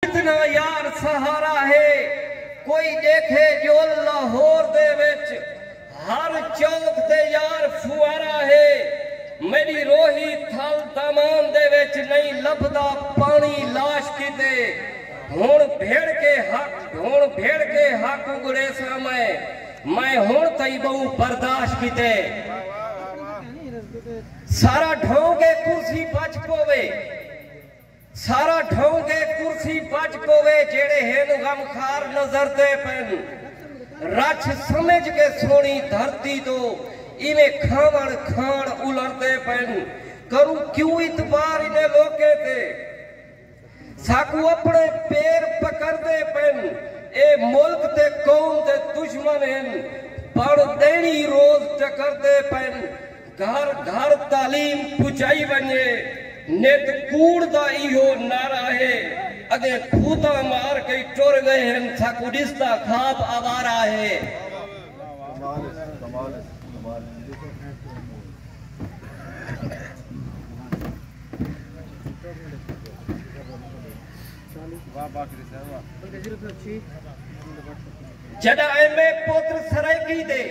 کتنا یار سہارا ہے کوئی ڈیکھے جو لاہور دے وچ ہر چوک تے یار فوارا ہے میری روہی تھل دامان دے وچ نہیں لبھدا پانی لاش کیتے ہن بھیڑ کے حق ہن بھیڑ کے حق گڑیساں میں میں ہن تئی بہو برداشت کیتے سارا ڈھونگ کے کرسی بچ پوے سارا ڈھونگ اے کرسی بچ پووے جیڑھے ہن غم خار نظر دے پن رچھ سمجھ کے سوہنی دھرتی تو ایویں کھاون کھان الر دے پن کروں کیوں اعتبار انہیں لوکیں تے ساکوں اپنے پیر پکر دے پن اے ملک تے قوم دے دشمن ہن بن ڈینی روز ٹکر دے پن گھر گھر تعلیم پجائی ونجے نت کوڑ دا ایہو نعرہ ہے اگے پھوتاں مار کئی ٹر گئے ہن ساکوں ڈسدا کھاپ آوارہ ہے۔ جڈاں ایم اے پتر سرائیکی دے۔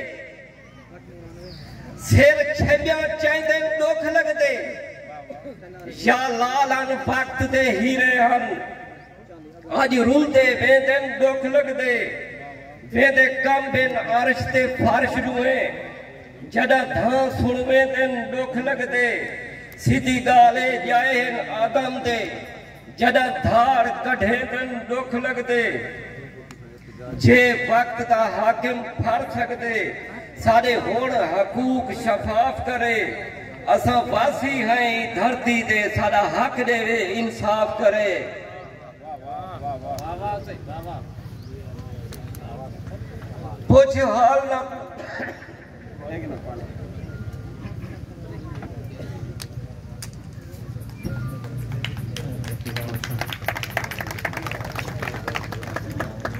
سر چھڈیاں چیندن ڈوکھ لگدے یا لالن وقت دے ہیرے ہن اج رلدے ویندن ڈوکھ لگدے ویندے کم بن عرش تے فرش ڈوئیں جڈا دھاں سن ویندن ڈوکھ لگدے سیدھی گالے جائے ہن آدم دے جڈا دھاڑ کڈھے دن ڈوکھ لگدے جے وقت دا حاکم پھر سگدے ساڈے ہن حقوق شفاف کرے اساں واسی ہیں ایں دھرتی تے ساڈا حق ڈیوے انصاف کرے۔ پچھ حال نہ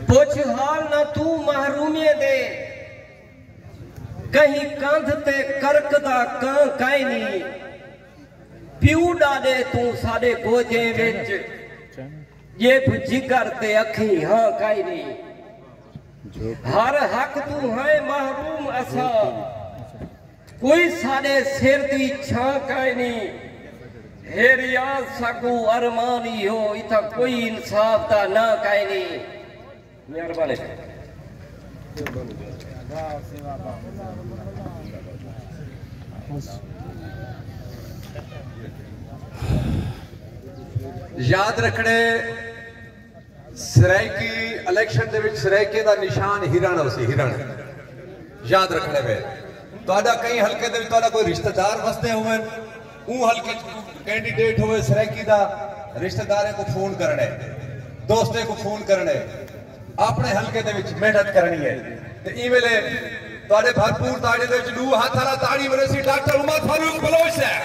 پوچھ حال نہ تو محرومی دے کہیں کندھ تے کرک دا کان کائے نہیں پیو ڈا دے تو ساڑے گوجے ویچ جیب جگر تے اکھیں ہاں کائنی۔ ہر حق توں ہیں محروم اساں۔ کوئی ساڈے سر دی چھاں کائنی۔ حیریان ساکوں ارمان ایہو اتھاں کوئی انصاف دا ناں کائنی۔ یاد رکھنڑے سرائیکی الیکشن دے وچ سرائیکی دا نشان ہرن ہو سی ہرن یاد رکھنڑے وے تہاڈا کئی حلقے دے وچ تہاڈا کوئی رشتہ دار وسدے ہوئن اوں حلقے اچ کوں کینڈیڈیٹ ہووے سرائیکی دا رشتہ داریں کوں فون کرݨے دوستیں کوں فون کرݨے آپݨے حلقے دے وچ محنت کرݨی اے تے ایں ویلے تہاݙے بھرپور تاڑیاں دے وچ ݙو ہتھ آلا تاڑی وݨیسی ڈاکٹر عمر فاروق بلوچ صاحب۔